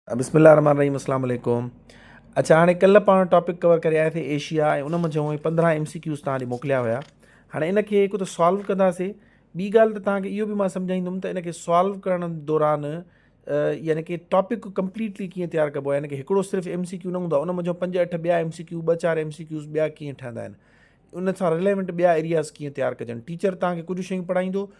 بسم الله الرحمٰن الرحيم اسلام عليڪم اڇا هاڻي ڪلهه پاڻ ٽاپڪ ڪور ڪري آيا سي ايشيا ۽ ان منجهه هونئن پندرهن ايم سي ڪيوز تان ڏي موڪليا هيا هاڻي ان کي هڪ ته سالو ڪنداسي ٻي ڳالهه ته تانکي اهو به مان سمجهائيندم ته ان کي سالو ڪرڻ دوران يعني ڪي ٽاپڪ ڪمپليٽلي ڪيئن تيار ڪبو آهي يعني ڪي هڪڙو صرف ايم سي ڪيو نه هوندا ان منجهه پنج اٺ ٻيا ايم سي ڪيو ٻه چار ايم سي ڪيوز ٻيا ڪيئن ٺهندا آهن ان سان رليونٽ ٻيا ايرياز ڪيئن تيار ڪجن ٽيچر تانکي ڪجهه شيون پڙهائيندو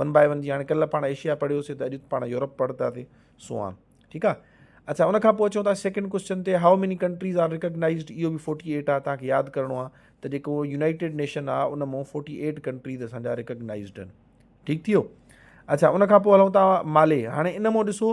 ون بائي ون جي هاڻي ڪلهه پاڻ ايشيا پڙهيو سي ته اڄ پاڻ يورپ پڙهتا سي سوان ٺيڪ آ اچھا ان کان پوء اچون ٿا سيڪنڊ ڪوشچن تي how many countries are recognised اهو به فورٽي ايٽ آ تان کي ياد ڪرڻو آ ته جيڪو يونائيٽيڊ نيشن آ ان مون فورٽي ايٽ ڪنٽريز اسان جا ريڪگنائزڊ آهن ٺيڪ ٿيو اچھا ان کان پوء هلون ٿا مالي هاڻي ان مون ڏسو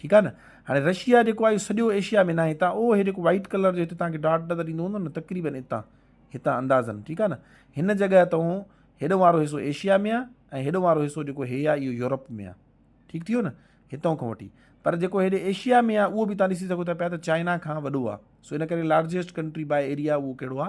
ٺيڪ آ نه هاڻي رشيا جيڪو آهي سڄو ايشيا ۾ ناهي هتان اهو هي جيڪو وائٽ ڪلر جو هتي تانکي ڊاٽ نظر ايندو هوندو نه تقريبن هتان هتان اندازن ٺيڪ آ نه هن جڳهه تون هيڏو وارو حصو ايشيا ۾ آ ۽ هيڏو وارو حصو جيڪو هي آ اهو يورپ ۾ آ ٺيڪ ٿي ويو نه هتان کان وٺي پر جيڪو هيڏي ايشيا ۾ آ اهو به تان ڏسي سگهو ٿا پيا ته چائنا کان وڏو آ سو ان ڪري لارجيسٽ ڪنٽري باء ايريا اهو ڪهڙو آ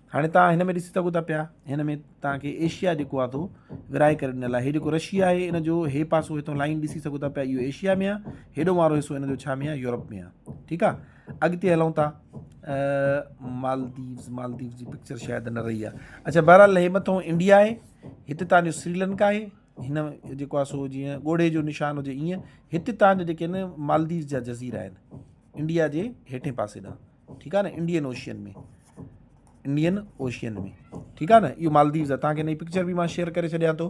هاڻي توهان هن ۾ ڏسي سگهو ٿا پيا هن ۾ توهان کي ايشيا جيڪو آ تو ورهائي ڪري ڏنل آهي هي جيڪو رشيا آهي ان جو هي پاسو هتو لائن ڏسي سگهو ٿا پيا اهو ايشيا ۾ آهي هيڏو وارو حصو ان جو ڇا ۾ آهي يورپ ۾ آهي ٺيڪ آهي اڳتي هلون ٿا مالديوز مالديوز جي پڪچر شايد نه رهي آهي اچھا بهرحال هي مٿو انڊيا آهي هتي تان جو سريلنڪا آهي هن جيڪو آهي سو جيئن ڳوڙهي جو نشان هجي ائين هتي تان جو جيڪي آهن مالديوز جا جزيرا آهن انڊيا جي هيٺين پاسي ڏانهن ٺيڪ آ نه انڊين اوشين ۾ انڊين اوشين ۾ ٺيڪ آ نه اهو مالديوز آ توهان کي پڪچر به مان شيئر ڪري ڇڏيان ٿو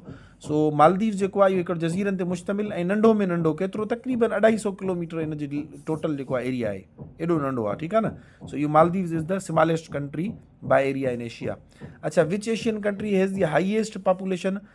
سو مالديوز جيڪو آ اهو هڪڙو جزيرن تي مشتمل ۽ ننڍو ۾ ننڍو ڪيترو تقريبن اڍائي سو ڪلوميٽر ان جي ٽوٽل جيڪو آ ايريا آهي ايڏو ننڍو آ ٺيڪ آ نه سو اهو Maldives is the smallest country by area in Asia اچھا وچ Asian country has the highest population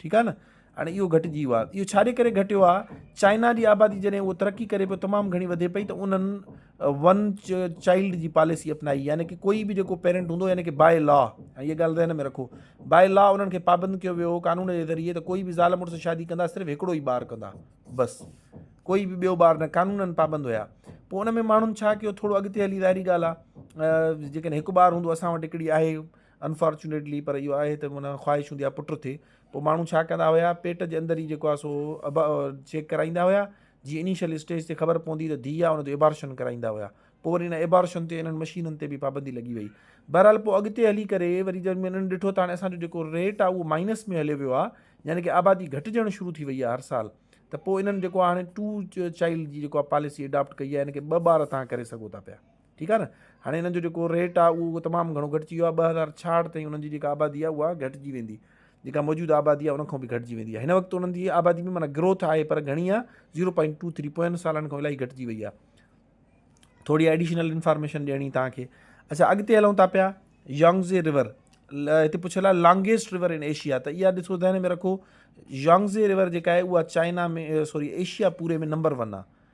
ٺيڪ آ نه هاڻي اهو گهٽجي ويو آهي اهو ڇاجي ڪري گهٽيو آهي چائنا جي آبادي جڏهن اهو ترقي ڪري پيو تمام گهڻي وڌي پئي ته انهن ون چائلڊ جي پاليسي اپنائي يعني ڪي ڪوئي به جيڪو پيرنٽ هوندو يعني ڪي باء لا ۽ هيء ڳالهه ذهن ۾ رکو باء لا انهن کي پابند ڪيو ويو قانون جي ذريعي ته ڪوئي به زال مڙس شادي ڪندا صرف هڪڙو ئي ٻار ڪندا بس ڪوئي به ٻيو ٻار نه قانونن پابند هيا پوء ان ۾ ماڻهن ڇا ڪيو ٿورو اڳتي هلي ظاهري ڳالهه آ جيڪڏهن هڪ ٻار هوندو اسان وٽ هڪڙي آهي انفارچونيٽلي پر اهو آهي ته معنيٰ خواهش هوندي آهي پٽ ٿئي پوء ماڻهو ڇا ڪندا هيا پيٽ جي اندر ئي جيڪو آهي سو ابا چيڪ ڪرائيندا هيا جي انيشل اسٽيج تي خبر پوندي ته ڌيء آهي ان جو ابارشن ڪرائيندا هيا پوء وري ان ابارشن تي انهن مشينن تي به پابندي لڳي وئي بهرحال پوء اڳتي هلي ڪري وري جڏهن انهن ڏٺو ته هاڻي اسان جو جيڪو ريٽ آهي اهو مائنس ۾ هليو ويو آهي يعني ڪي آبادي گهٽجڻ شروع ٿي وئي آهي هر سال ته پوء انهن جيڪو هاڻي ٽو چائلڊ جي جيڪو پاليسي اڊاپٽ ڪئي آهي يعني ڪي ٻه ٻار تان ڪري سگهو ٿا پيا ٺيڪ آ نه هاڻي انهن جو جيڪو ريٽ آ اهو تمام گهڻو گهٽجي ويو آ ٻه هزار ڇاهٺ تائين انهن جي جيڪا آبادي آ اها گهٽجي ويندي جيڪا موجوده آبادي آ ان کان به گهٽجي ويندي آ هن وقت انهن جي آبادي ۾ معنيٰ گروٿ آهي پر گهڻي آ zero point two three point سالن کان الاهي گهٽجي وئي آ ٿوري ايڊيشنل انفارميشن ڏيڻي توهان کي اچھا اڳتي هلون ٿا پيا يانگزي ريور هتي پڇيل آ لانگيسٽ ريور ان ايشيا ته اها ڏسو ذهن ۾ رکو يانگزي ريور جيڪا آهي اها چائنا ۾ سوري ايشيا پوري ۾ نمبر ون آ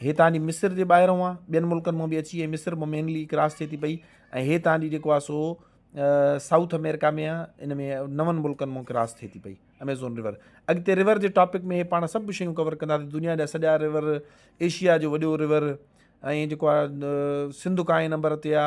هي تان جي مصر جي ٻاهران آ ٻين ملڪن مان به اچي ۽ مصر مان مينلي ڪراس ٿئي ٿي پئي ۽ هي تان جي جيڪو آ سو سائوٿ امريڪا ۾ آ ان ۾ نون ملڪن مان ڪراس ٿئي ٿي پئي اميزون ريور اڳتي ريور جي ٽاپڪ ۾ هي پاڻ سڀ شيون ڪور ڪندا دنيا جا سڄا ريور ايشيا جو وڏو ريور ۽ جيڪو آ سنڌ ڪائين نمبر تي آ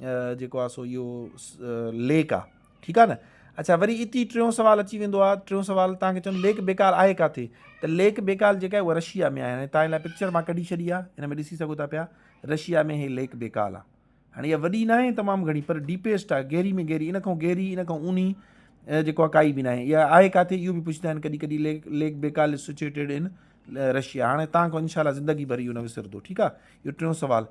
جيڪو آ سو اهو ليڪ آ ٺيڪ آ نه اچھا وري اتي ئي ٽيون سوال اچي ويندو آ ٽيون سوال تان کي چون ليڪ بيڪال آهي ڪاٿي ته ليڪ بيڪال جيڪا آهي اها رشيا ۾ آهي تان لاء پڪچر مان ڪڍي ڇڏي آ هن ۾ ڏسي سگهو ٿا پيا رشيا ۾ هي ليڪ بيڪال آ هاڻي اها وڏي ناهي تمام گهڻي پر ڊيپيسٽ آ گهري ۾ گهري ان کان گهري ان کان اوني جيڪو آ ڪائي به ناهي اها آهي ڪاٿي اهو به پڇندا آهن ڪڏهن ڪڏهن ليڪ ليڪ بيڪال سچويٽيڊ ان رشيا هاڻي تان کان انشاء الله زندگي ڀر اهو نه وسرندو ٺيڪ آ اهو ٽيون سوال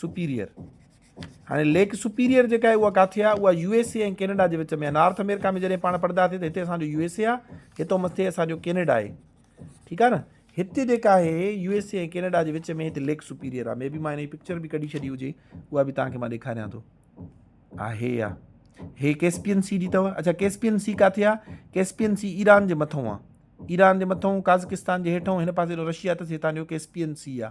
سپيريئر، هاڻي ليڪ سپيريئر جيڪا آهي اها ڪاٿي آهي؟ اها يو ايس اي ۽ ڪينيڊا جي وچ ۾ آهي. نارٿ آمريڪا ۾ جڏهن پاڻ پڙهندا هئاسين ته هتي اسان جو يو ايس اي آهي، هتو مٿي اسان جو ڪينيڊا آهي. ٺيڪ آهي نه؟ هتي جيڪا آهي يو ايس اي ۽ ڪينيڊا جي وچ ۾ هتي ليڪ سپيريئر آهي. مي بي مان هن جي پڪچر به ڪڍي ڇڏي هجي، اها به توهان کي مان ڏيکاريان ٿو. آ هي آ. هي ڪيسپين سي جي اٿو. اڇا ڪيسپين سي ڪاٿي آ؟ ڪيسپين سي ايران جي مٿئون آ. ايران جي مٿئون، قازقستان جي هيٺئون، هن پاسي رشيا اٿس، هتان جو ڪيسپين سي آ.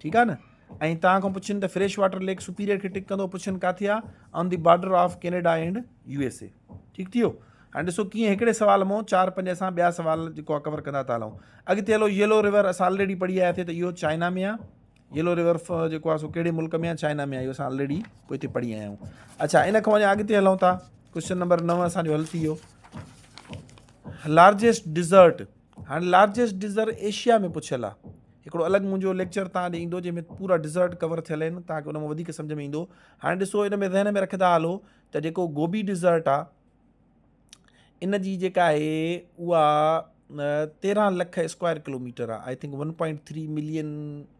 ٺيڪ آ نه ۽ توهان کان پڇن ته فريش واٽر ليڪ سپيريئر کي ٽڪ ڪندو پڇن ڪاٿي آ on the border of Canada and U S A ٺيڪ ٿيو ها ڏسو ڪيئن هڪڙي سوال مون چار پنج اسان ٻيا سوال جيڪو آ ڪور ڪندا ٿا هلون اڳتي هلو يلو ريور اسان آلريڊي پڙهي آيا ٿي ته اهو چائنا ۾ آ يلو ريور جيڪو آ سو ڪهڙي ملڪ ۾ آ چائنا ۾ آ اهو اسان آلريڊي پوء هتي پڙهي آيا آهيون اچھا ان کان وڃا اڳتي هلون ٿا ڪوشچن نمبر نو اسانجو حل ٿي ويو لارجسٽ ڊيزرٽ هاڻي لارجسٽ ڊزر ايشيا ۾ پڇيل آ. هڪڙو الڳ منهنجو ليڪچر توهان ڏي ايندو جنهن ۾ پورا ڊزرٽ ڪور ٿيل آهن توهان کي ان مان وڌيڪ سمجهه ۾ ايندو. هاڻي ڏسو ان ۾ ذهن ۾ رکندا هلو ته جيڪو گوبي ڊزرٽ آ ان جي جيڪا آهي اها تيرهن لک اسڪوائر ڪلوميٽر آ I think one point three million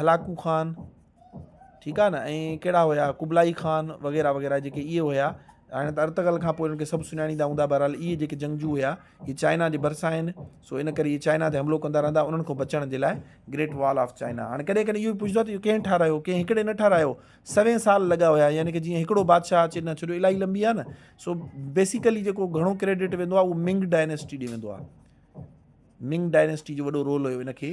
Hulagu Khan ٺيڪ آ نه ۽ ڪهڙا هيا قبلائي خان وغيره وغيره جيڪي اهي هيا هاڻي ته ارطغرل کان پوء انهن کي سڀ سڃاڻيندا هوندا بهرحال اهي جيڪي جنگجو هيا اهي چائنا جي ڀرسان آهن سو ان ڪري اهي چائنا تي حملو ڪندا رهندا انهن کان بچڻ جي لاء گريٽ وال آف چائنا هاڻي ڪڏهن ڪڏهن اهو پڇندو آهي ته ڪنهن ٺارايو ڪنهن هڪڙي نه ٺارايو سوين سال لڳا هيا يعني ڪه جيئن هڪڙو بادشاهه اچي نه ڇڏيو الاهي لنبي آهي نه سو بيسيڪلي جيڪو گهڻو ڪريڊٽ ويندو آهي اهو منگ ڊائنيسٽي ڏي ويندو آهي منگ ڊائنيسٽي جو وڏو رول هيو ان کي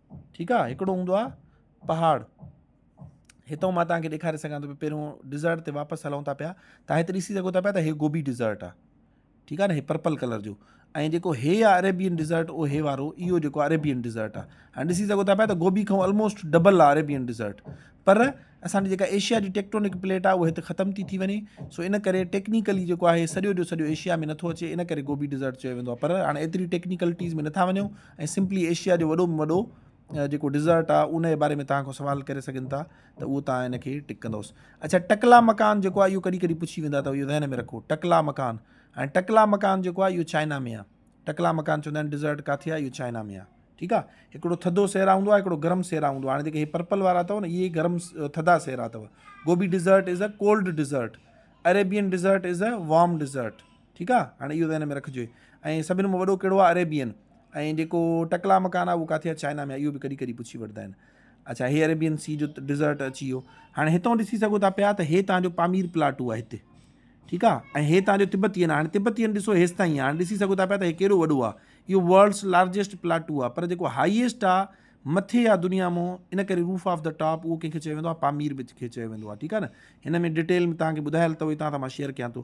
ٺيڪ آ هڪڙو هوندو آ پهاڙ هتو مان توهان کي ڏيکاري سگهان ٿو پهريون ڊيزرٽ تي واپس هلون ٿا پيا تان هت ڏسي سگهو ٿا پيا ته هي گوبي ڊيزرٽ آ ٺيڪ آ نه هي پرپل ڪلر جو ۽ جيڪو هي آ اريبين ڊيزرٽ او هي وارو اهو جيڪو اريبين ڊيزرٽ آ هاڻي ڏسي سگهو ٿا پيا ته گوبي کان آلموسٽ ڊبل آ اريبين ڊيزرٽ پر اسان جي جيڪا ايشيا جي ٽيڪٽونڪ پليٽ آ اهو هت ختم ٿي ٿي وڃي سو ان ڪري ٽيڪنيڪلي جيڪو آ هي سڄو جو سڄو ايشيا ۾ نٿو اچي ان ڪري گوبي ڊيزرٽ چيو ويندو آ پر هاڻي ايتري ٽيڪنيڪلٽيز ۾ نٿا وڃون ۽ سمپلي ايشيا جو وڏو ۾ وڏو جيڪو ڊيزرٽ آ ان جي باري ۾ توهان کان سوال ڪري سگهن ٿا ته اهو توهان ان کي ٽڪ ڪندوس اڇا ٽڪلا مڪان جيڪو آهي اهو ڪڏهن ڪڏهن پڇي ويندا ته اهو ذهن ۾ رکو ٽڪلا مڪان هاڻي ٽڪلا مڪان جيڪو آهي اهو چائنا ۾ آهي ٽڪلا مڪان چوندا آهن ڊيزرٽ ڪاٿي آهي اهو چائنا ۾ آهي ٺيڪ آ هڪڙو ٿڌو سيرا هوندو آهي هڪڙو گرم سيرا هوندو آهي هاڻي جيڪي هي پرپل وارا اٿو نه اهي گرم ٿڌا سيرا اٿو Gobi desert is a cold desert Arabian desert is a warm desert ٺيڪ آ هاڻي اهو ذهن ۾ رکجي ۽ سڀن مان وڏو ڪهڙو آ اريبين ۽ جيڪو ٽڪلا مڪان آ اهو ڪاٿي آ چائنا ۾ آ اهو به ڪڏهن ڪڏهن پڇي وٺدا آهن اڇا هي اريبين سي جو ڊيزرٽ اچي ويو هاڻي هتون ڏسي سگهو ٿا پيا ته هي تان جو پامير پلاٽو آ هتي ٺيڪ آ ۽ هي تان جو تبتين هاڻي تبتين ڏسو هيس تائين هاڻي ڏسي سگهو ٿا پيا ته هي ڪيڏو وڏو آ اهو ورلڊس لارجيسٽ پلاٽو آ پر جيڪو هائيسٽ آ مٿي آ دنيا مون ان ڪري روف آف د ٽاپ اهو ڪنهن کي چيو ويندو آ پامير به کي چيو ويندو آ ٺيڪ آ نه هن ۾ ڊيٽيل ۾ تان کي ٻڌايل ته هتان ته مان شيئر ڪيان ٿو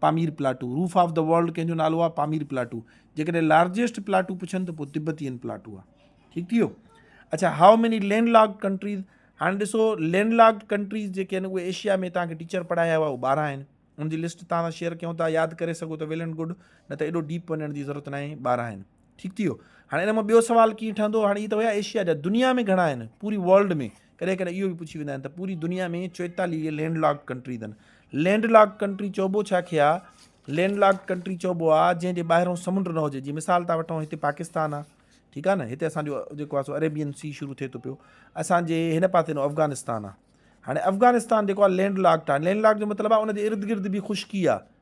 Pamir plateau, roof of the world ڪنهن جو نالو آ پامير پلاٽو، جيڪڏهن لارجيسٽ پلاٽو پڇن ته پوء تبتين پلاٽو آ. ٺيڪ ٿي ويو. اڇا how many landlocked countries هاڻي ڏسو لينڊ لاڪڊ ڪنٽريز جيڪي آهن اهي ايشيا ۾ توهان کي ٽيچر پڙهايا هئا اهي ٻارهن آهن ان جي لسٽ توهان سان شيئر ڪيون ٿا ياد ڪري سگهو ته ويل اينڊ گڊ نه ته ايڏو ڊيپ وڃڻ جي ضرورت ناهي ٻارهن آهن. ٺيڪ ٿي ويو هاڻي ان مان ٻيو سوال ڪيئن ٺهندو هاڻي هي ته هيا ايشيا جا دنيا ۾ گهڻا آهن پوري ورلڊ ۾ ڪڏهن ڪڏهن اهو به پڇي ويندا آهن ته پوري دنيا ۾ چويتاليهه لينڊ لاڪ ڪنٽري اٿن لينڊ لاڪ ڪنٽري چئبو ڇا کي آ لينڊ لاک ڪنٽري چئبو آ جنهن جي ٻاهرو سمنڊ نه هجي جي مثال تھا وٺون هتي پاڪستان آ ٺيڪ آ نه هتي اسان جو جيڪو آ سو عربين سی شروع ٿئي ٿو پيو اسان جي هن پاسي نو افغانستان آ هاڻي افغانستان جيڪو آ لينڊ لاڪ ٽا لينڊ لاڪ جو مطلب آ ان جي ارد گرد به خشڪي آ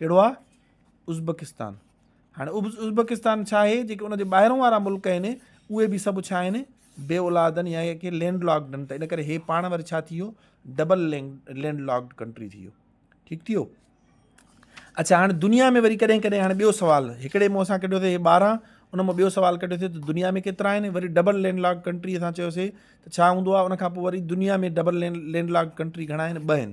ڪهڙو آ ازبڪستان هاڻي ازبڪستان ڇا آهي جيڪي ان جي ٻاهرون وارا ملڪ آهن اهي به سڀ ڇا آهن بي اولادن يا اهي ڪي لينڊ لاڪڊ آهن ته ان ڪري هي پاڻ وري ڇا ٿي ويو double land landlocked country ٿي ويو ٺيڪ ٿي ويو اچھا هاڻي دنيا ۾ وري ڪڏهن ڪڏهن هاڻي ٻيو سوال هڪڙي مون اسان ڪڍيو اٿئي ٻارهن ان مان ٻيو سوال ڪڍيو اٿئي ته دنيا ۾ ڪيترا آهن وري ڊبل لينڊ لاڪ ڪنٽري اسان چيوسي ته ڇا هوندو آهي ان کان پوء وري دنيا ۾ double land land lock country گھڻا آهن ٻه آهن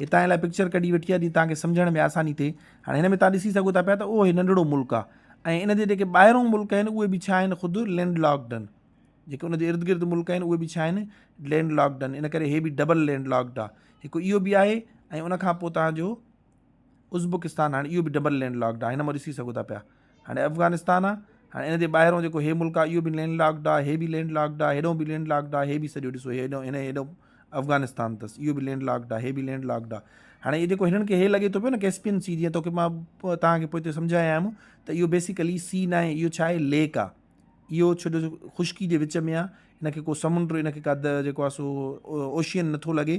هتان ان لاء پڪچر ڪڍي وٺي آهي جيئن توهان کي سمجهڻ ۾ آساني ٿئي. هاڻي هن ۾ توهان ڏسي سگهو ٿا پيا ته اهو هي ننڍڙو ملڪ آهي ۽ ان جي جيڪي ٻاهرون ملڪ آهن اهي به ڇا آهن خود لينڊ لاڪڊ آهن. جيڪي ان جي ارد گرد ملڪ آهن اهي به ڇا آهن لينڊ لاڪڊ آهن ان ڪري هي به ڊبل لينڊ لاڪڊ آهي. هڪ اهو به آهي ۽ ان کان پوء توهان جو ازبڪستان هاڻي اهو به ڊبل لينڊ لاڪڊ آهي هن مان ڏسي سگهو ٿا پيا. هاڻي افغانستان آ هاڻي ان جي ٻاهرون جيڪو هي ملڪ آ اهو به لينڊ لاڪڊ آ هي به لينڊ لاڪڊ آ هيڏو به لينڊ لاڪڊ آ هي به سڄو ڏسو هيڏو هن هيڏو افغانستان تس اهو به لينڊ لاڪڊ آ هي به لينڊ لاڪڊ آ هاڻي هي جيڪو هنن کي هي لڳي ٿو پيو نه ڪيسپين سي جيئن توکي مان توهان کي پوئتي سمجهايا آهيم ته اهو بيسيڪلي سي نه آهي اهو ڇا آهي ليڪ آ اهو ڇو جو خشڪي جي وچ ۾ آ هن کي ڪو سمنڊ هن کي ڪا جيڪو آ سو اوشين نٿو لڳي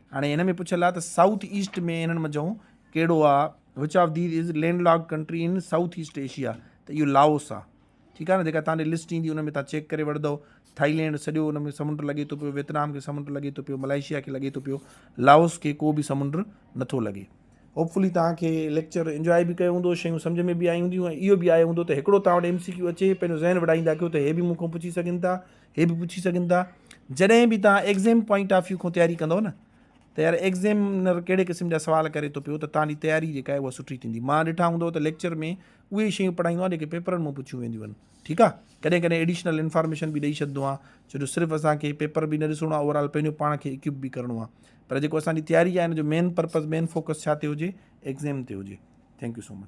هاڻي هن ۾ پڇيل آهي ته سائوٿ ايسٽ ۾ انهن منجهو ڪهڙو آهي which of these is land lock country in South East Asia ته اهو لاوس آهي ٺيڪ آهي نه جيڪا تانڏي لسٽ ايندي ان ۾ تان چيڪ ڪري وٺندو ٿائيلينڊ سڄو ان ۾ سمنڊ لڳي ٿو پيو ويتنام کي سمنڊ لڳي ٿو پيو ملائيشيا کي لڳي ٿو پيو لاوس کي ڪو به سمنڊ نٿو لڳي هوپفلي توهان کي ليڪچر انجوائي به ڪيو هوندو شيون سمجھ ۾ به آيون هونديون ۽ اهو به آيو هوندو ته هڪڙو توهان وٽ ايم سي ڪيو اچي پنهنجو ذهن وڙائيندا ڪيو ته هي به مون کان پڇي سگهن ٿا هي به پڇي سگهن ٿا جڏهن به توهان ايگزيم پوائنٽ آف ويو کان تياري ڪندو نه ته يار ايگزيمنر ڪهڙي قسم جا سوال ڪري ٿو پيو ته توهان جي تياري جيڪا آهي اها سٺي ٿيندي مان ڏٺا هوندو ته ليڪچر ۾ اهي شيون پڙهائيندو آهي جيڪي پيپرن ۾ پڇيون وينديون آهن ٺيڪ آهي ڪڏهن ڪڏهن ايڊيشنل انفارميشن به ڏيئي ڇڏندو آهي ڇو جو صرف اسان کي پيپر به نه ڏسڻو آهي اوور آل پنهنجو پاڻ کي اڪيپ به ڪرڻو آهي پر جيڪو اسان جي تياري آهي ان جو مين پرپز مين فوڪس ڇا تي هجي ايگزيم تي هجي ٿينڪ يو سو مچ